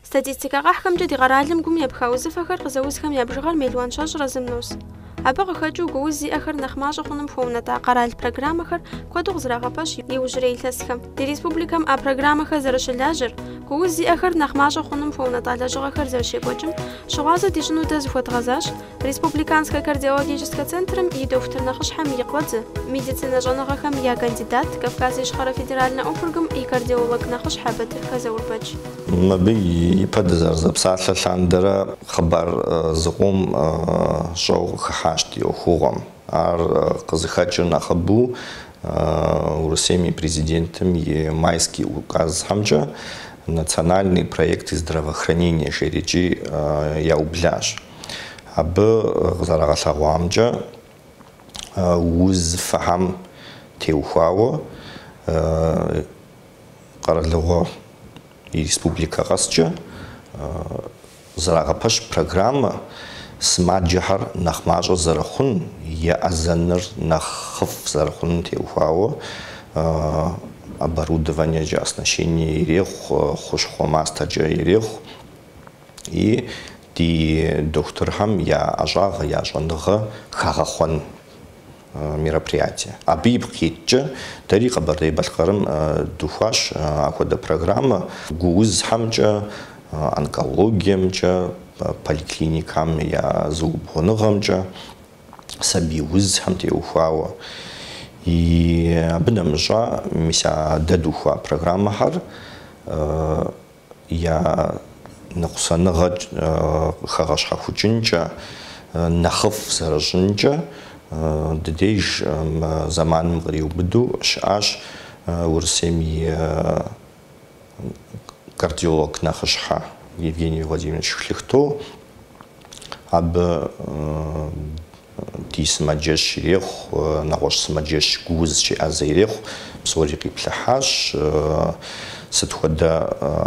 Статистикэ къэхьхэмкӏэ ди къэралым гум епха узыфэхэр къызэузхэм я бжыгъэр мелуан щэщӏрэ зым нос. Абы къыхэкӏыу гууз зиӏэхэр нэхъ мащӏэ хъунум хуэунэтӏа къэрал программэхэр куэду къызэрагъэпэщ иужьрей илъэсхэм. Ди республикэм а программэхэр зэрыщылажьэр, гууз зиӏэхэр нэхъ мащӏэ хъунум хуэунэтӏа лэжьыгъэхэр зэрыщекӏуэкӏым щыгъуазэ дищӏыну дэ зыхуэдгъэзащ, Республиканскэ кардиологическэ центрым и дохутыр нэхъыщхьэм и къуэдзэ, медицинэ щӏэныгъэхэм я кандидат, Кавказ Ищхъэрэ федеральнэ округым и кардиолог нэхъыщхьэ Батырхэ Заурбэч. Мыбы ипэ дызэрызэпсалъэ лъандэрэ хъыбар зыкъом щӏэу къыхыхьащ ди ӏуэхугъуэм. Ар къызыхэкӏыр нэхъыбэу Урысейм и Президентым и Майский указхэмкӏэ Национальный проект здравоохранения жери икӏи яублащ. Абы къызэрагъэлъэгъуамкӏэ, узыфэхэм теухуауэ къэралыгъуэ и республикэ къэскӏэ къызэрагъэпэщ программэ Сымаджэхэр нэхъ мащӏэ зэрыхъун еӏэзэныр нэхъыфӏ зэрыхъуным теухуауэ оборудованиекӏэ, оснащение ирехъу, хущхъуэ мастэкӏэ ирехъу. И ди дохутырхэм я ӏэщӏагъэ, я щӏэныгъэ хагъэхъуэн мероприятие. Абы ипкъ иткӏэ, дэри Къэбэрдей-Балъкъэрым духуащ ахуэдэ программэ. Гуузхэмкӏэ, онкологиемкӏэ, поликлиникам я зыубгъуныгъэмкӏэ, сабий узхэм теухуауэ. И абы нэмыщӏа, мис а дэ духуа программэхэр я ныкъусаныгъэ къыхэгъэщхьэхукӏынкӏэ нэхъыфӏ зэрыщӏынкӏэ, ди деж мы зэманым къриубыду щыӏащ Урысейм и кардиолог нэхъыщхьэ Евгений Владимирович Шляхто. Абы Ди сымаджэщ ирехъу, нэгъуэщӏ сымаджэщ Гууз щеӏэзэ ирехъу, псори къиплъыхьащ. Сыт хуэдэ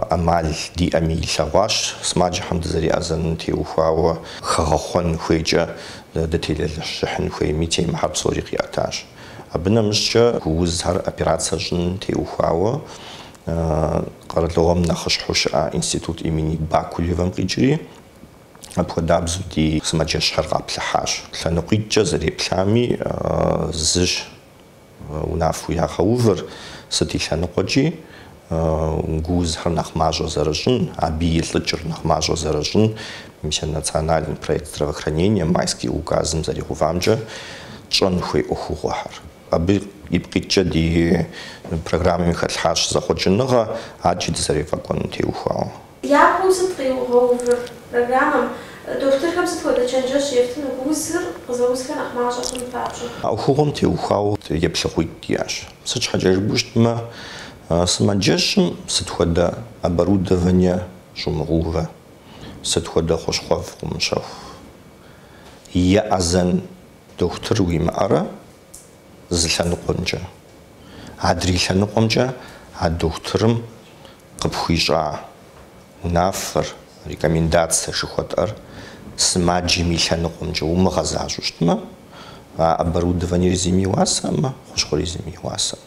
ӏэмал диӏэми илъэгъуащ сымаджэхэм дызэреӏэзэным теухуауэ хэгъэхъуэн хуейкӏэ дытелэжьыхьын хуейми темэхэр псори къиӏэтащ. Абы нэмыщӏкӏэ Гуузхэр операция щӏын теухуауэ къэралыгъуэм нэхъыщхьэу щыӏа институт имени Бакулевэм къикӏри, Апхуэдабзэу ди сымаджэщхэр къаплъыхьащ. Лъэныкъуитӏкӏэ зэреплъами, зыщ унафэу ягъэувыр, сыт и лъэныкъуэкӏи, гуузхэр нэхъ мащӏэ зэрыщӏын, абы илӏыкӏыр нэхъ мащӏэ зэрыщӏын, мис а национальный проект здравоохранения Майский указым зэригъэувамкӏэ тщӏэн хуей ӏуэхугъуэхэр. Абы ипкъ иткӏэ ди программэми хэлъхьащ зэхъуэкӏыныгъэ, адэкӏи дызэрефӏэкӏуэнум теухуауэ. Япэу сыт къиугъэувыр программэм? Дохутырхэм сыт хуэдэ чэнджэщ ефтыну? Гуузыр къызэузхэр нэхъ мащӏэ хъуну папщӏэ? А ӏуэхугъуэм теухуауэ еплъыкӏитӏ иӏэщ. Сыт щхьэкӏэ жыпӏэу щытмэ, сымаджэщым сыт хуэдэ оборудование щӏумыгъуувэ, сыт хуэдэ хущхъуэфӏ къумыщэху, еӏэзэн дохутыр уимыӏэрэ? зы лъэныкъуэмкӏэ. Адрей лъэныкъуэмкӏэ а дохутырым къыпхуищӏа унафэр, рекомендацэ жыхуэтӏэр сымаджэм и лъэныкъуэмкӏэ имыгъэзащӏу щытмэ, а оборудованиер зыми и уасэм, хущхъуэри зыми и уасэм.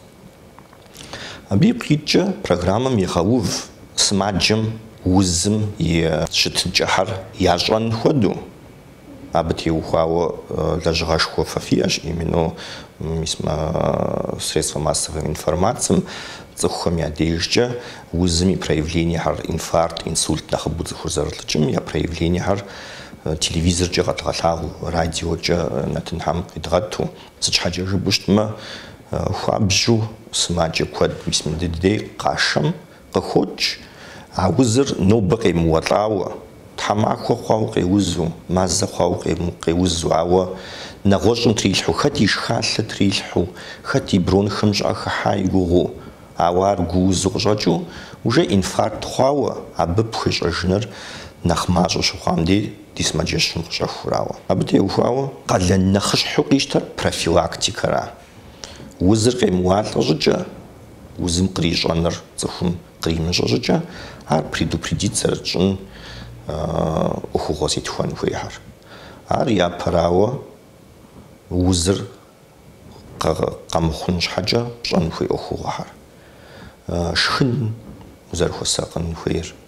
Абы ипкъ иткӏэ программэм егъэув сымаджэм узым и щытыкӏэхэр ящӏэн хуэдэу. Абы теухуауэ лэжьыгъэшхуэ фэ фиӏэщ именно мис мы средствэ массовэ информацэм цӏыхухэм я дежкӏэ узым и проявлениехэр, инфаркт, инсульт нэхъыбэу цӏыхур зэрылӏыкӏым я проявлениехэр телевизоркӏэ къэдгъэлъагъуу, радиокӏэ нэтынхэм къидгъэӏу. Сыт щхьэкӏэ жыпӏэу щытмэ, хуабжьу сымаджэ куэд, мис мыдыдей къашэм, Къыхокӏ а узыр нобэ къемыуэлӏауэ, тхьэмахуэ хъуау къеузу, мазэ хъуау къеузу, ауэ нэгъуэщӏым трилъхьу, хэт и шхалъэ трилъхьу, хэт и бронхэм щӏыӏэ хыхьа и гугъуу, ауэ ар гуузу къыщӏэкӏыу, уже инфаркт хъуауэ, абы пхуещӏэжыныр нэхъ мащӏэ щыхъуам дей ди сымаджэщым къыщӏэхутауэ. Абы теухуауэ къалэн нэхъыщхьэу къищтэр профилактикэращ. Узыр къемыуалӏэ щӏыкӏэ, узым кърищӏэныр цӏыхум къримыщӏэ щӏыкӏэ, ар предупредит зэрытщӏын ӏуэхугъуэ зетхуэн хуейхэращ. Ар япэрауэ узыр къэмыхъун щхьэкӏэ пщӏэн хуей ӏуэхугъуэхэращ. Шхын узэрыхуэсакъын хуейр.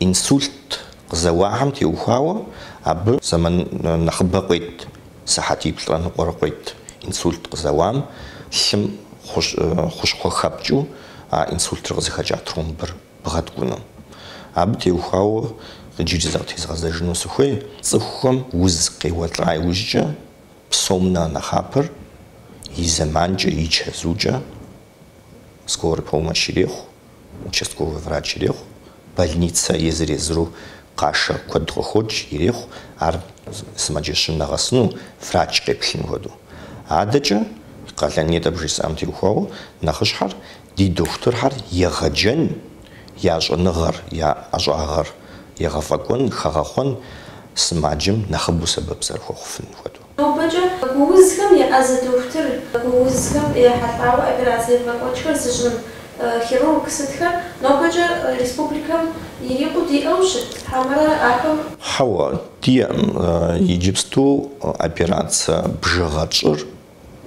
Инсульт къызэуахэм теухуауэ абы зэман нэхъыбэ къует, сыхьэтиплӏрэ ныкъуэрэ къует. Инсульт къызэуам лъым хущхъуэ хэпкӏыу а инсультыр къызыхэкӏа тромбыр бгъэткӏуну. Абы теухуауэ иджыри зыкъытезгъэзэжыну сыхуей, цӏыхухэм уз къеуэлӏа иужькӏэ псом нэхърэ нэхъапэр и зэманкӏэ, и чэзукӏэ скорый помощ ирехъу. Участковый врач ирехъу, больницэ езыр-езыру къашэ куэд къыхокӏ, ирехъу ар сымаджэщым нэгъэсыну, врач къеплъын хуэдэу. Адэкӏэ, къалэн нетӏэ абы жысӏам теухуауэ, нэхъыщхьэр ди дохутырхэр егъэджэн, я щӏэныгъэр, я ӏэщӏагъэр егъэфӏэкӏуэн, хэгъэхъуэн, сымаджэм нэхъыбэу сэбэп зэрыхуэхъуфын хуэдэу. Нобэкӏэ гуузхэм еӏэзэ дохутыр, гуузхэм ехьэлӏауэ операцэ ебгъэкӏуэкӏхэр зыщӏын хирург сытхэр нобэкӏэ республикэм ирикъуу диӏэу щыт, хьэмэрэ ахэм. Хьэуэ, диӏэм. Иджыпсту операцие бжыгъэ тщӏыр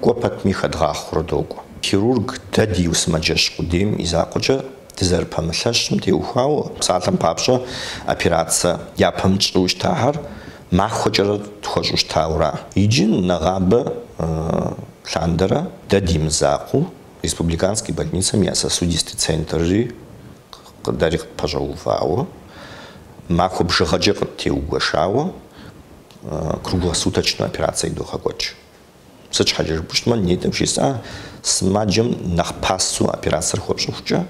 кӏуэ пэтми хэдгъахъуэурэ докӏуэ. Хирург дэ ди гу сымаджэщ къудейм и закъуэкӏэ. Дызэрыпэмылъэщым теухуауэ, псалъэм папщӏэ, операцэ япэм тщӏыу щытахэр махуэкӏэрэ тхуэщӏу щытауэра. Иджы нэгъабэ лъандэрэ дэ ди мызакъуэу Республиканский больницэм я сосудистый центрри къыдэри къытпэщӏэувауэ, махуэ бжыгъэкӏэ къыттеугуэшауэ круглосуточнэ операцэ идогъэкӏуэкӏ. Сыт щхьэкӏэ жыпӏущтмэ, нетӏэм жысӏа сымаджэм нэхъ пасэу операцэр хуэпщӏыхукӏэ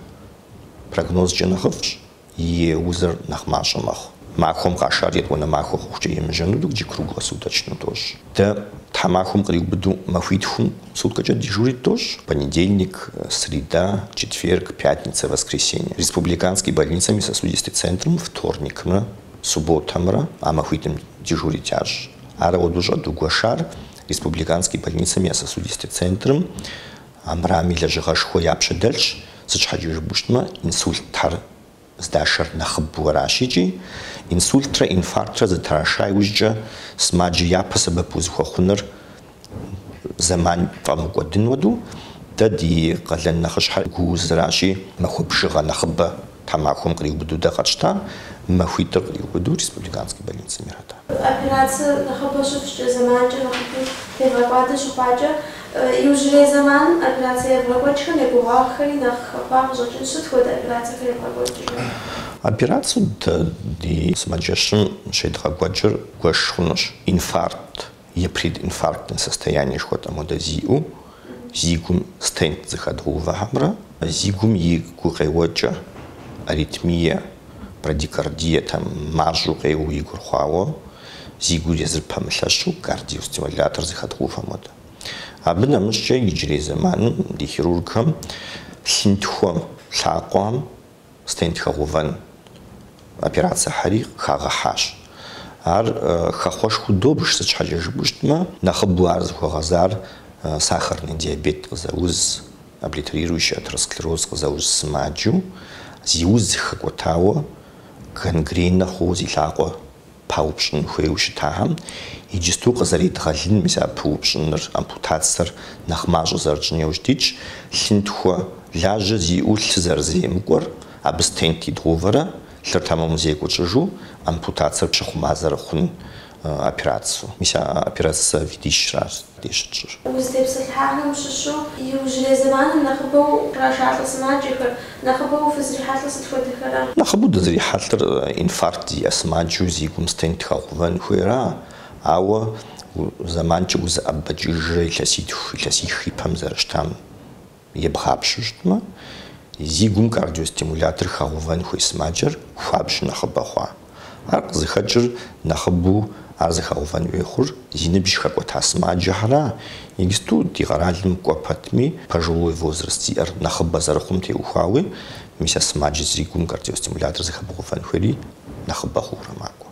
прогнозкӏэ нэхъыфӏщ, и узыр нэхъ мащӏэ мэхъу. Махуэм къашар етӏуанэ махуэ хъухукӏэ емыжьэну дэ иджы круглосуточнэу дощӏ. Дэ тхьэмахуэм къриубыдэу махуитхум суткэкӏэ дежурит дощӏ, понедельник, среда, четверг, пятница, воскресенье. Республиканский больницэм и сосудистый центрым вторникмрэ субботэмрэ а махуитӏым дежурит ящӏ. Ар апхуэдэу щӏэдгуэшар Республиканский больницэм я сосудистэ центрым армырами лэжьыгъэшхуэ я пщэ дэлъщ, сыт щхьэкӏэ жыпӏэу щытмэ, инсультхэр здашэр нэхъыбэу аращ икӏи, инсультрэ инфарктрэ зэтраша иужькӏэ, сымаджэ япэ сэбэп узыхуэхъуныр зэман фӏэмыкӏуэдын хуэдэу, дэ ди къалэн нэхъыщхьэр гу узыращи, махуэ бжыгъэ нэхъыбэ. Тхьэмахуэм къриубыдэу дэ къэтщтам махуитӏыр къриубыдэу республиканскэ больницэм ирата. Операцэ нэхъыбэ щыфщӏкӏэ зэманкӏэ нэхъыфӏу тевгъэкӏуадэ щыхъуакӏэ, иужьрей зэманым операцэ евгъэкӏуэкӏхэм я гугъагъхэри нэхъ хэхъуа къыщӏэкӏынщ. Сыт хуэдэ операцэхэр евгъэкӏуэкӏрэ? Операцэ дэ ди сымаджэщым щедгъэкӏуэкӏыр бгуэш хъунущ, инфаркт. е прединфарктнэ состояние жыхуэтӏэм хуэдэ зиӏэу, зи гум стент зыхэдгъэувэхэмрэ зи гум и гукъеуэкӏэ, аритмие, брадикардие, там, мащӏэу къеуэу и гур хъуауэ, зи гур езыр пэмылъэщу, кардиостимулятор зыхэдгъэувэм хуэдэ. Абы нэмыщӏкӏэ иджырей зэманым ди хирургхэм лъынтхуэм, лъакъуэм, Стент хэгъувэн операцэхэри хагъэхьащ. Ар хэхъуэшхуэу добж, сыт щхьэкӏэ жыпӏэу щытмэ, нэхъыбэу ар зыхуэгъэзар сахарный диабет къызэуз, облитерирующий атеросклероз къызэуз сымаджэу, зи уз зыхэкӏуэтауэ гангренэ хъууэ зи лъакъуэ паупщӏын хуейуэ щытахэм, иджысту къызэредгъэлын, мис а пыупщӏыныр, ампутацэр нэхъ мащӏэ зэрытщӏын иужь дитщ, лъынтхуэ лажьэ зиӏэу лъы зэрыземыкӏуэр, абы стент идгъувэрэ, лъыр тэмэму зекӏуэу тщӏыжу, ампутацэр пщыхъумэ зэрыхъун операцэу. Мис а операцэ видищращ. къыщытщӏыр. Узытепсэлъыхьахэм щыщу иужьрей зэманым нэхъыбэу кърашалӏэ сымаджэхэр, нэхъыбэу фызрихьэлӏыр сыт хуэдэхэра? Нэхъыбэу дызрихьэлӏыр инфаркт зиӏэ сымаджэу зи гум стент тхэгъэувэн хуейра, ауэ зэманкӏэ узыӏэбэкӏыжрэ илъэситху, илъэсих и пэм зэрыщтам. Ебгъапщэу щытмэ, зи гум кардиостимулятор хагъэувэн хуей сымаджэр хуабжьу нэхъыбэ хъуа? Ар къызыхэкӏыр нэхъыбэу ар зыхэгъэувэн хуей хъур зи ныбжь хэкӏуэта сымаджэхьэра? Иджысту ди къэралым кӏуэ пэтми, пожилой возраст зиӏэр нэхъыбэ зэрыхъум теухуауи, мис а сымаджэр зи гум кардиостимулятор зыхэбгъэувэн хуейри нэхъыбэ хъуурэ макӏуэ.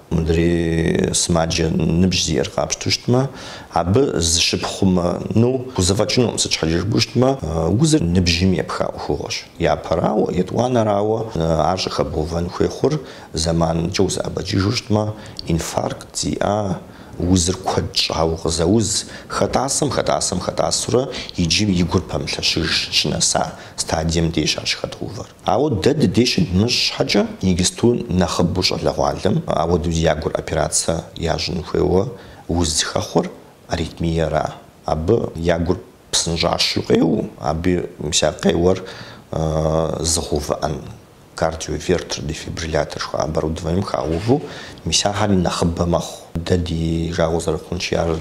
Мыдрей сымаджэ ныбжь зиӏэр къапщтэу щытмэ, абы зыщыпхъумэну пхузэфӏэкӏынукъым, сыт щхьэкӏэ жыпӏэу щытмэ, узыр ныбжьым епха ӏуэхугъуэщ. Япэрауэ, етӏуанэрауэ, ар щӏыхэбгъэувэн хуей хъур зэманкӏэ узэӏэбэкӏыжу щытмэ, инфаркт зиӏа узыр куэд щӏауэ къызэуз, хэтӏасэм, хэтӏасэм, хэтӏасурэ иджы и гур пэмылъэщыж щынэса стадием дежщ ар щыхэдгъэувэр. Ауэ дэ ди деж щыдмыщӏ щхьэкӏэ, иджысту нэхъыбэу щӏалэгъуалэм апхуэдэу я гур операцэ ящӏын хуейуэ уз зыхэхъуэр аритмиера. Абы я гур псынщӏащэу къеуэу, абы мис а къеуэр зыгъэувыӏэн кардиовертер-дефибриллятор жыхуаӏэ оборудованием хагъэувэу мис ахьэри нэхъыбэ мэхъу. Дэ ди жагъуэ зэрыхъунщи ар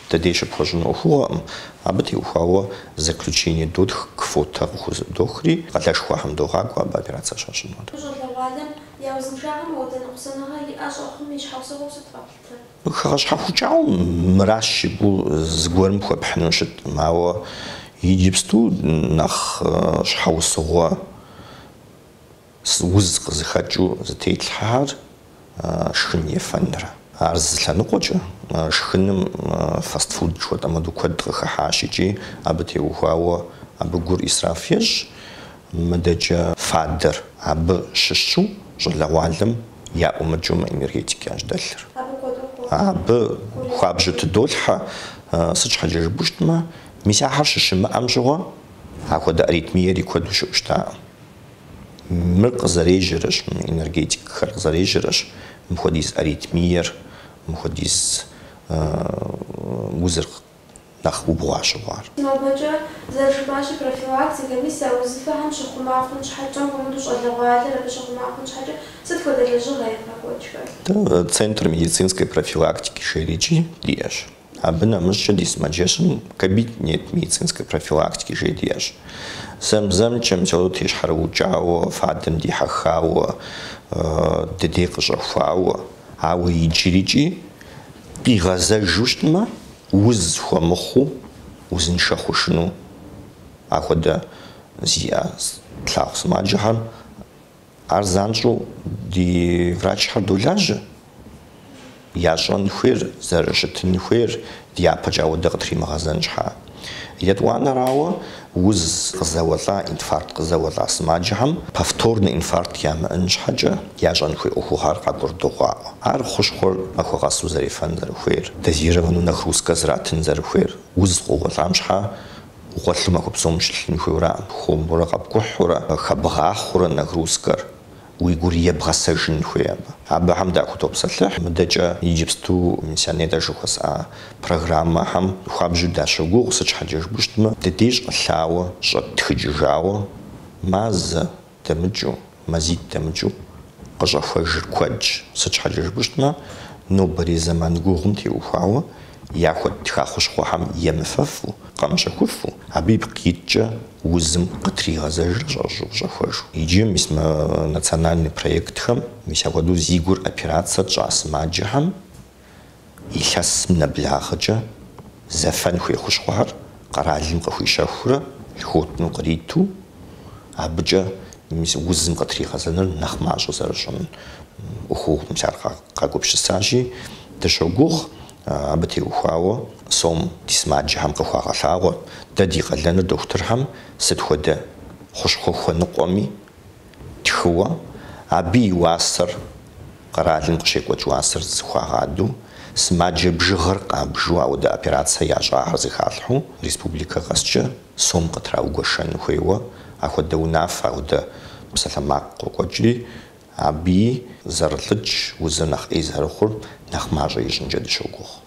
Дэ деж щыпхуэщӏын ӏуэхугъуэкъым, абы теухуауэ заключение дотх, квотэ къыхузэӏудохри, къалэшхуэхэм догъакӏуэ абы операцэ щащӏыну. Ди щӏалэгъуалэм я узыншагъэм мопхуэдэ ныкъусаныгъэ иӏэ щӏэхъум и щхьэусыгъуэу сыт къэплъытэр? Хэгъэщхьэхукӏауэ мыращ жыпӏэу зыгуэрым хуэпхьыну щытӏым, ауэ иджыпсту нэхъ щхьэусыгъуэ. Уз къызыхэкӏыу зытетлъхьэхэр шхын, ефэнра. Ар зы лъэныкъуэкӏэ, шхыным фастфуд жыхуэтӏэ моду куэд къыхыхьащ икӏи абы теухуауэ абы гур ӏисраф ещӏ. Мыдэкӏэ фадэр абы щыщу щӏалэгъуалэм яӏумыкӏыу мы энергетик ящэу дэлъыр. Абы хуабжьу тыдолъхьэ, сыт щхьэкӏэ жыпӏэу щытмэ, мис ахэр щыщымыӏэм щыгъуэ апхуэдэ аритмиери куэду щыӏэу щытакъым. Мыр къызэрежьэрэщ, мы энергетикхэр къызэрежьэрэщ мыпхуэдиз аритмиер, мыпхуэдиз узыр нэхъ убгъуа щыхъуар. Сымаджэ зэрыжыпӏащи, профилактикэ, мис а узыфэхэм щыхъума хъун щхьэкӏэ, мыхэмыдэу щӏалэгъуалэр абы щыхъума хъун щхьэкӏэ, сыт хуэдэ лэжьыгъэ евгъэкӏуэкӏхэр? Центр медицинской профилактики жери икӏи диӏэщ. Абы нэмыщӏкӏэ ди сымаджэщым кабинет медицинской профилактики жери диӏэщ. Зэм-зэмкӏэ мисолу тещхьэрыукӏауэ, фадэм дихьэхауэ, дыдей къыщӏэхуауэ, ауэ иджырикӏи къигъэзэжу щытмэ, уз хуэмыхъуу, узыншэ хъужыну ахуэдэ зиӏэ тлъагъу сымаджэхэм Ар занщӏэу ди врачхэр долажьэ, ящӏэн хуейр, зэрыщытын хуейр дяпэкӏэ ауэдэ къытримыгъэзэн щхьа. Етӏуанэрауэ, уз къызэуэлӏа, инфаркт къызэуэлӏа сымаджэхэм повторнэ инфаркт ямыӏэн щхьэкӏэ ящӏэн хуей ӏуэхугъуэр къагурыдогъаӏуэ. Ар хущхъуэр махуэ къэсу зэрефэн зэрыхуейр, дозированнэу нагрузкэ зратын зэрыхуейр, уз къоуэлӏам щхьа Гъуэлъу махуэ псом щылъын хуейуэ аракъым, хуэмурэ къэпкӏухьурэ, хэбгъахъуурэ нагрузкэр уи гур ебгъэсэжын хуей абы. Абыхэм дахутопсэлъыхь, мыдэкӏэ иджыпсту мис нетӏэ жыхуэсӏа программэхэм хуабжьу дащогугъ, сыт щхьэкӏэ жыпӏэу щытмэ, ди деж къылъауэ, щӏэттхыкӏыжауэ, мазэ, дэмыкӏыу, мазитӏ дэмыкӏыу къыщӏэхуэжыр куэдщ. Сыт щхьэкӏэ жыпӏэу щытмэ, нобэрей зэман гугъум теухуауэ яхуэттха хущхъуэхэм емыфэфу, къэмыщэхуфу, абы ипкъ иткӏэ узым къытригъэзэжрэ щӏэщӏу къыщӏэхуэжу. Иджы мис мы национальный проектхэм мис апхуэдэу зи гур операцэ тщӏа сымаджэхэм, Илъэсым нэблагъэкӏэ зэфэн хуей хущхъуэхэр къэралым къыхуищэхуурэ льготнэу къриту, абыкӏэ мис узым къытригъэзэныр нэхъ мащӏэ зэрыщӏын ӏуэхугъуэу мис ар къагупсысащи, дыщогугъ абы теухуауэ сом ди сымаджэхэм къыхуагъэлъагъуэр, дэ ди къалэныр дохутырхэм сыт хуэдэ хущхъуэ хуэныкъуэми, Тхыуэ, абы и уасэр, къэралым къыщекӏуэкӏ уасэр зыхуагъадэу, сымаджэ бжыгъэр къабжу ауэдэ операцэ ящӏахэр зэхалъхьэу, республикэ къэскӏэ сом къытраугуэшэн хуейуэ, ахуэдэ унафэ, ауэдэ псалъэмакъ къокӏуэкӏри, абыи зэрылӏыкӏ узыр нэхъ ӏей зэрыхъур нэхъ мащӏэ ищӏынкӏэ дыщогугъ.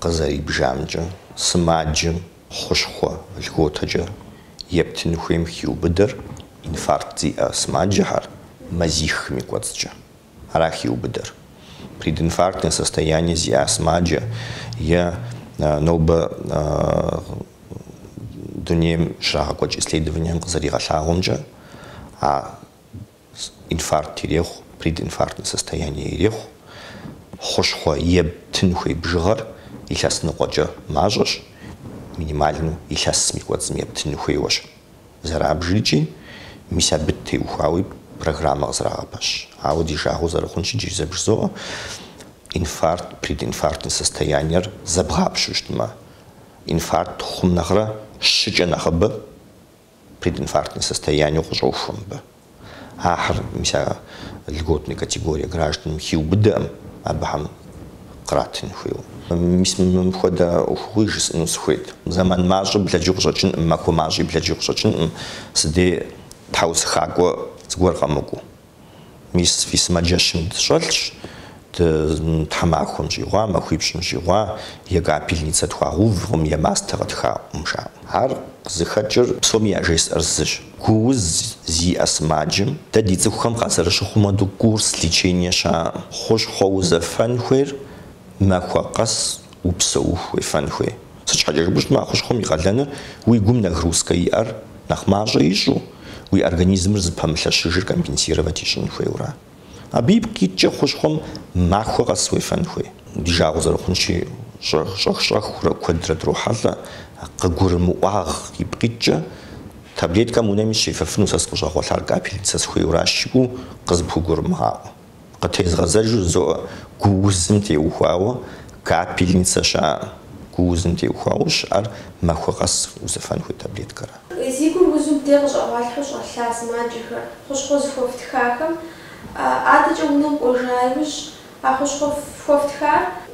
къызэрибжамкӏэ, сымаджэм хъущхъуэ льготэкӏэ ептын хуейм хиубыдэр инфаркт зиӏэ сымаджэхэр мазиххэм и кӏуэцӏкӏэ. Ара хиубыдэр. Прединфарктное состояние зиӏа сымаджэ е нобэ дунейм щрагъэкӏуэкӏ исследованием къызэригъэлъагъуэмкӏэ, а Инфаркт ирехъу, прединфарктнэ состояние ирехъу. Хъущхъуэ ептын хуей бжыгъэр илъэс ныкъуэкӏэ мащӏэщ, минимальну илъэсым и кӏуэцӏым ептыну хуейуэщ зэрабжыр икӏи, мис абы теухуауи программэ къызэрагъэпэщ. Ауэ ди жагъуэ зэрыхъунщи, иджыри зэ бжызоӏэ, инфаркт, прединфарктнэ состояниер зэбгъапщэу щытмэ, инфаркт хъум нэхърэ щыкӏэ нэхъыбэ Прединфарктнэ состояниеу къыщӏохуэ мыбы. Ахэр, мис а льготнэ категорие гражданхэм хиубыдэкъым абыхэм къратын хуейуэ. Мис мыпхуэдэ ӏуэхугъуи жысӏэну сыхуейт. Зэман мащӏэу блэкӏыу къыщӏэкӏынкъым, махуэ мащӏи блэкӏыу къыщӏэкӏынкъым, си дей тхьэусыхакӏуэ зыгуэр къэмыкӏуэу. Мис фи сымаджэщым дыщӏэлъщ, дэ тхьэмахуэм щӏигъуа, махуипщӏым щӏигъуа е капельницэ тхуагъэувкъым е мастэ къытхаӏукъым, жаӏэ. Ар къызыхэкӏыр псоми яжесӏэр зыщ, гу уз зиӏэ сымаджэм дэ ди цӏыхухэм къазэрыщыхъум хуэдэу курс лечения щыӏэкъым. Хъущхъуэ узэфэн хуейр махуэ къэс Упсэуху уефэн хуей. Сыт щхьэкӏэ жыпӏэу щытмэ, а хущхъуэм и къалэныр уи гум нагрузкэ иӏэр нэхъ мащӏэ ищӏу, уи организмыр зыпэмылъэщыжыр компенсировать ищӏын хуейуэ ара. Абы ипкъ иткӏэ хущхъуэм махуэ къэс уефэн хуей. Ди жагъуэ зэрыхъунщи, щӏэх-щӏэхурэ куэдрэ дрохьэлӏэ, къыгурымыӏуагъ ипкъ иткӏэ. Таблеткэм унэми сыщефэфыну сэ сыкъыщӏэгъуэлъар капельницэ сыхуейуэ аращ жиӏэу къызыпхугурымыгъаӏуэ. Къытезгъэзэжу жызоӏэ гу узым теухуауэ капельницэ щыӏэкъым. Гу узым теухуауэ щыӏэр махуэ къэс узэфэн хуей таблеткэра. Зи гур узу мыбдей къыщӏэгъуалъхьэу щӏэлъа сымаджэхэр, хущхъуэ зыхухэтхахэм, адэкӏэ унэм кӏуэжа иужь, а хущхъуэ хухэтхар,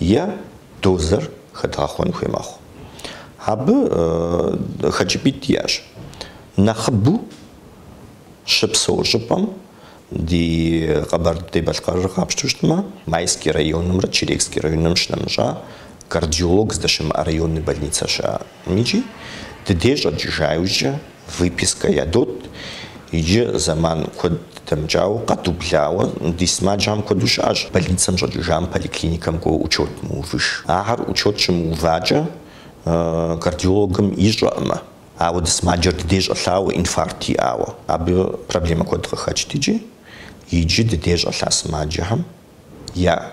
е дозэр хэдгъэхъуэн хуей мэхъу. Абы хэкӏыпӏитӏ диӏэщ. Нэхъыбэу щыпсэу щӏыпӏэм ди Къэбэрдей-Балъкъэрыр къапщтэу щытмэ, Майский районымрэ Черекский районымрэ щынэмыщӏа кардиолог здэщымыӏэ районный больницэ щыӏэкъым икӏи ди дей щӏэкӏыжа иужькӏэ Выпискэ ядот иджы зэман куэд дэмыкӏауэ, къэдублауэ. Ди сымаджэхэм куэду щыӏэщ больницэм щӏэкӏыжам, поликлиникэм кӏуэуэ учет мыувыж. Ахэр учет щымыувакӏэ кардиологым ищӏэкъымэ. Ауэ ди сымаджэр ди дей щӏэлъауэ, инфаркт иӏауэ. Абы проблемэ куэд къыхэкӏт икӏи. Иджы ди дей щӏэлъа сымаджэхэм я.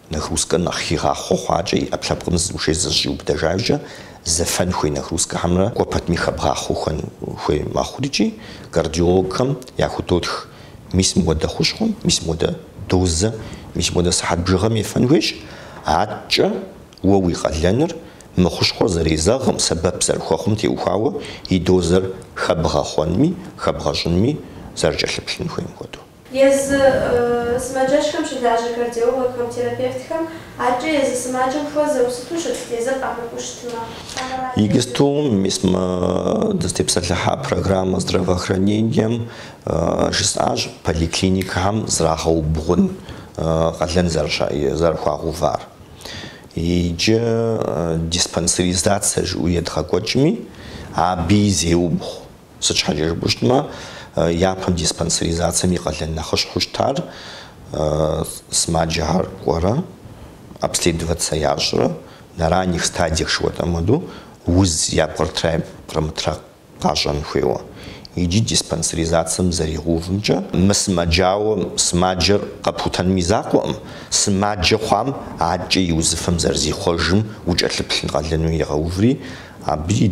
Нагрузкэр нэхъ хигъахъуэ хъуакӏэ и ӏэпкълъэпкъым зыгушей зэщӏиубыдэжамкӏэ, зэфэн хуей нагрузкэхэмрэ кӏуэ пэтми хэбгъахъуэу хэн хуей мэхъур икӏи кардиологхэм яхудотх мис мыхуэдэ хущхъуэм, мис мыхуэдэ дозэ, мис мыхуэдэ сыхьэт бжыгъэм ефэн хуейщ, адэкӏэ уэ уи къалэныр мы хущхъуэр зэрезэгъым сэбэп зэрыхуэхъум теухуауэ и дозэр хэбгъэхъуэнми хэбгъэщӏынми зэрыкӏэлъыплъын хуейм хуэдэу. Езы сымаджэщхэм щылажьэ кардиологхэм, терапевтхэм адэкӏэ езы сымаджэм хуэзэу сыту щыт езыр къамыкӏуу щытмэ. Иджыпсту мис мы дызытепсэлъыхьа программэ здравоохранением жысӏащ поликлиникэхэм зрагъэубгъун къалэн зэрыхуагъэувар. Иджы диспансеризацэ жыӏэу едгъэкӏуэкӏми, абыи зеубгъу. Сыт щхьэкӏэ жыпӏэу щытмэ, япэм диспансеризацэм и къалэн нэхъыщхьэу щытар сымаджэхэр кӏуэрэ, обследоваться ящӏрэ, на ранних стадиях жыхуэтӏэм хуэдэу, уз япкърытра япкърымытра къащӏэн хуейуэ. Иджы диспансеризацэм зэригъэувымкӏэ, мы сымаджауэ сымаджэр къэпхутэным и закъуэкъым, сымаджэ хъуам адэкӏэ и узыфэм зэрызихъуэжым укӏэлъыплъын къалэну егъэуври, абы и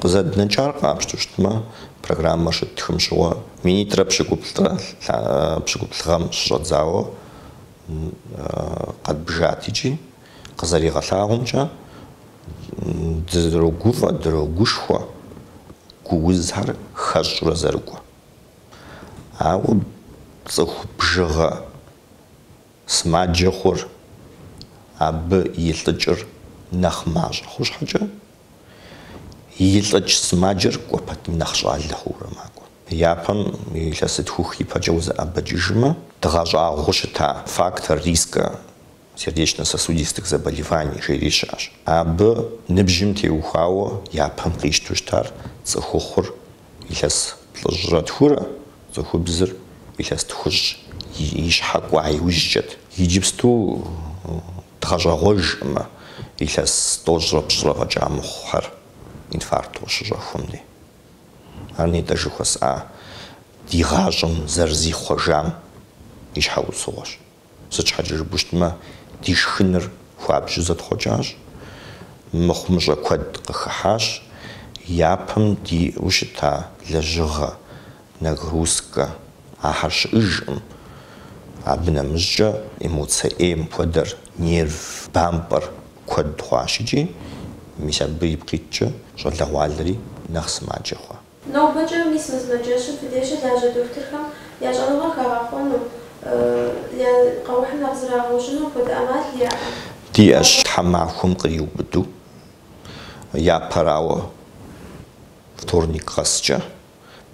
Къызэднэкӏар къапщтэу щытмэ, программэр щыттхым щыгъуэ минитӏрэ пщыкӏуплӏрэ пщыкӏуплӏ гъэм щыщӏэдзауэ къэдбжат икӏи, къызэригъэлъагъумкӏэ, дрогуфӏэ, дрогушхуэ гу узхэр хэщӏурэ зэрыкӏуэ. Ауэ цӏыху бжыгъэ. Сымаджэ хъур, абы илӏыкӏыр нэхъ мащӏэ хъу щхьэкӏэ, илӏыкӏ сымаджэр кӏуэ пэтми нэхъ щӏалэ хъуурэ макӏуэ. Япэм илъэситху-хы ипэкӏэ узэӏэбэкӏыжмэ, дгъэщӏагъуэу щыта фактор риска сердечно-сосудистых заболеваний жери щыӏэщ. Абы ныбжьым теухуауэ япэм къищту щытар цӏыхухъур Илъэс плӏыщӏрэ тхурэ цӏыхубзыр илъэс тхущӏ и щхьэ кӏуа иужькӏэт. Иджыпсту дгъэщӏэгъуэжкъымэ илъэс тӏощӏрэ пщӏырэ фӏэкӏа мыхъухэр инфаркт къыщыщӏэхуэм дей. Ар нетӏэ жыхуэсӏа ди гъащӏэм зэрызихъуэжам и щхьэусыгъуэщ. Сыт щхьэкӏэ жыпӏэу щытмэ, ди шхыныр хуабжьу зэтхъуэкӏащ, мыхъумыщӏэ куэд къыхыхьащ, япэм диӏэу щыта лэжьыгъэ, нагрузкэ, ахэр щыӏэжкъым. Абы нэмыщӏкӏэ эмоцэ ӏейм хуэдэр нерв бампӏэр куэд хъуащ икӏи, мис абы ипкъ иткӏэ щӏалэгъуалэри нэхъ сымаджэ хъуа. Нобэкӏэ мис мы сымаджэщым фи деж щылажьэ дохутырхэм я щӏэныгъэр хагъэхъуэну, я къэухьыр нэхъ зрагъэужьыну апхуэдэ ӏэмал яӏэ? Диӏэщ тхьэмахуэм къриубыдэу, япэрауэ, вторник къэскӏэ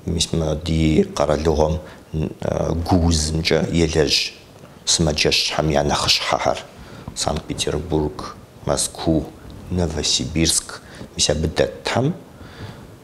мис мы ди къэралыгъуэм гу узымкӏэ елэжь сымаджэщхэм я нэхъыщхьэхэр, Санкт-Петербург, Мэзкуу, Новосибирск, мис абы дэтхэм.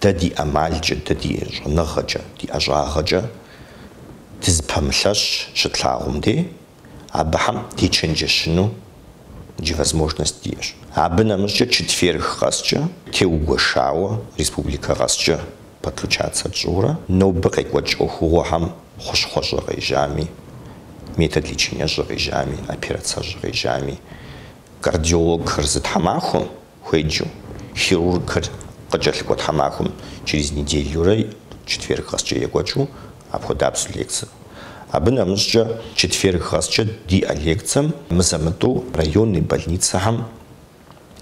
Дэ ди ӏэмалкӏэ, дэ ди щӏэныгъэкӏэ, ди ӏэщӏагъэкӏэ дызыпэмылъэщ щытлъагъум де, абыхэм дечэнджэщыну иджы возможность диӏэщ. Абы нэмыщӏкӏэ четверг къэскӏэ, теугуэшауэ, республикэ къэскӏэ подключаться тщӏыурэ, нобэ къекӏуэкӏ ӏуэхугъуэхэм хъущхъуэщӏэ къежьами, метод лечениещӏэ къежьами, операцэщӏэ къежьами, кардиологхэр зы тхьэмахуэм, Хуеджэу, хирургхэр къыкӏэлъыкӏуэ тхьэмахуэм через неделюрэ четверг къэскӏэ екӏуэкӏыу апхуэдабзэу лекцэр. Абы нэмыщӏкӏэ, четверг къэскӏэ диӏэ лекцэм мызэ-мытӏу районный больницэхэм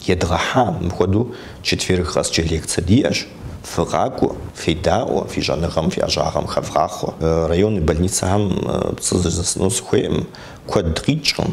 едгъэхьа, мыпхуэдэу четверг къэскӏэ лекцэ диӏэщ, фыкъакӏуэ, федаӏуэ, фи щӏэныгъэм, фи ӏэщӏагъэм хэвгъахъуэ. Районный больницэхэм пцӏы зэзэсыну сыхуейкъым, куэд къикӏкъым.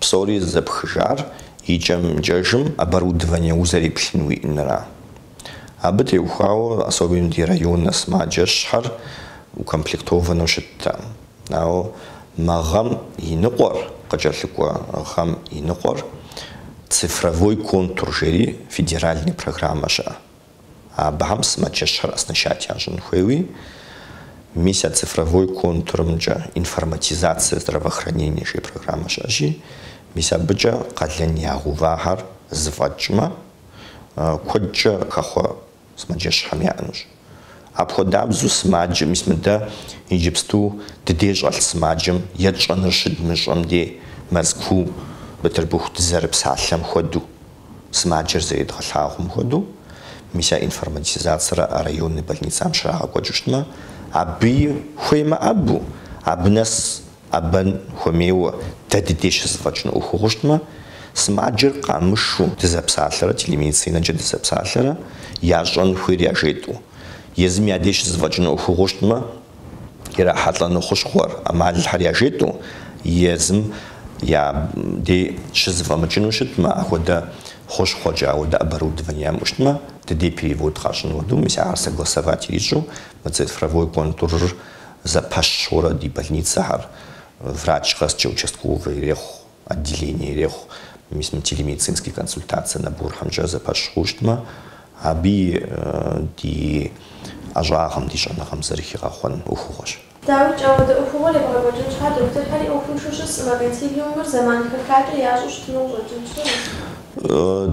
Псори зэпхыжар икӏэм-икӏэжым оборудование узэреплъын уиӏэнра. Абы теухуауэ особенно ди районнэ сымаджэщхэр укомплектованэу щыттэкъым. Ауэ мы гъэм и ныкъуэр, къыкӏэлъыкӏуэ гъэм и ныкъуэр цифровой контур жери федеральный программэ щыӏэ. Абыхэм сымаджэщхэр оснащать ящӏын хуейуи, мис а цифровой контурымкӏэ Информатизация здравоохранения жей программэ щыӏэщи, мис абыкӏэ къалэн ягъэувахэр зэфӏэкӏмэ, куэдкӏэ хэхъуэ сымаджэщхэм яӏэнущ. Апхуэдабзэу сымаджэ, мис мыдэ иджыпсту ди дей щӏэлъ сымаджэм етщӏэныр щыдмыщӏэм дей Мэзкуу, Бытырбыху дызэрыпсалъэм хуэдэу, Сымаджэр зэредгъэлъагъуэм хуэдэу, мис а информатизацэр а районный больницэм щрагъэкӏуэкӏыу щытмэ, абыи, хуеймэ абу, абы нэс ӏэбэн хуэмейуэ дэ ди деж щызэфӏэкӏыну ӏуэхугъуэ щытмэ, сымаджэр къамышэу дызэпсалъэрэ телемедицинэкӏэ дызэпсалъэрэ ящӏэн хуейр яжетӏэу, езым я деж щызэфӏэкӏыну ӏуэхугъуэ щытмэ, ирахьэлӏэну хущхъуэр, ӏэмалхэр яжетӏэу, езым я дей щызэфӏэмыкӏыну щытмэ, ахуэдэ хущхъуэкӏэ, ахуэдэ оборудование ямыӏэу щытмэ, ди дей перевод къащӏын хуэдэу, мис ахэр согласовать ирищӏу, мы цифровой контурыр зэпэщ хъуурэ ди больницэхэр врач къэскӏэ участковый ирехъу. Отделение ирехъу мис мы телемедицинские консультацие наборхэмкӏэ зэпэщ хъуу щытмэ, аби ди ӏэщӏагъэм, ди щӏэныгъэм зэрыхигъэхъуэн ӏуэхугъуэщ. Дауикӏ, ауэдэ ӏуэхугъуэр ебгъэкӏуэкӏын щхьа, дохутырхэри ӏуэхуншэу щысӏым, а консилиумыр зэман хэхакӏэ ящӏу щытыну къыщӏэкӏынт щыгъуи.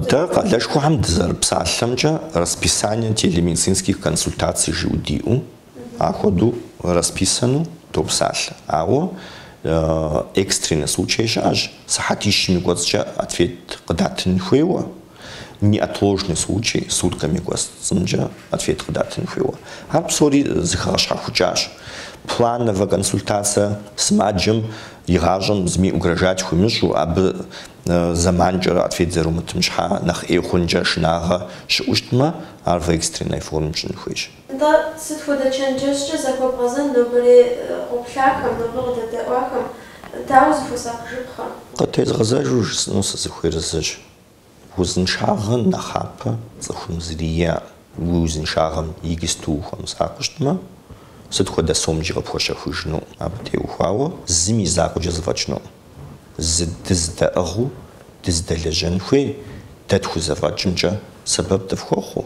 Дэ къалэшхуэхэм дызэрыпсалъэмкӏэ, расписание телемедицинских консультаций жиӏэу диӏэу Апхуэдэу расписану допсалъэ, ауэ экстренный случай щыӏэщ, сыхьэтищым и кӏуэцӏкӏэ ответ къыдатын хуейуэ, неотложный случай, суткэм и кӏуэцӏымкӏэ ответ къыдатын хуейуэ. Ар псори зыхэгъэщхьэхукӏащ. Плановэ консультацэ сымаджэм и гъащӏэм зыми угрожать хуимыщӏу, абы зэманкӏэрэ ответ зэрумытым щхьа нэхъ ӏей хъункӏэ шынагъэ щыӏущтмэ, ар в экстренной формэм щӏын хуейщ. Нтӏэ, сыт хуэдэ чэнджэщкӏэ захуэбгъэзэн нобэрей къоплъахэм, нобэ къыдэдэӏуахэм? Дауэ зыхуэсакъыжыпхъэ? Къытезгъэзэжу жысӏэну сызыхуейр зыщ, узыншагъэ нэхъапэ цӏыхум зыри иӏэӏым, уи узыншагъэм игысту ухуэмысакъыу щытмэ, сыт хуэдэ сомкӏи къыпхуэщэхужынуӏым, абы теухуауэ зым и закъуэкӏэ зэфӏэкӏынуӏым. Зы дыздэӏыгъыу дыздэлэжьэн хуей дэ тхузэфӏэкӏымкӏэ сэбэп дыфхуэхъуу.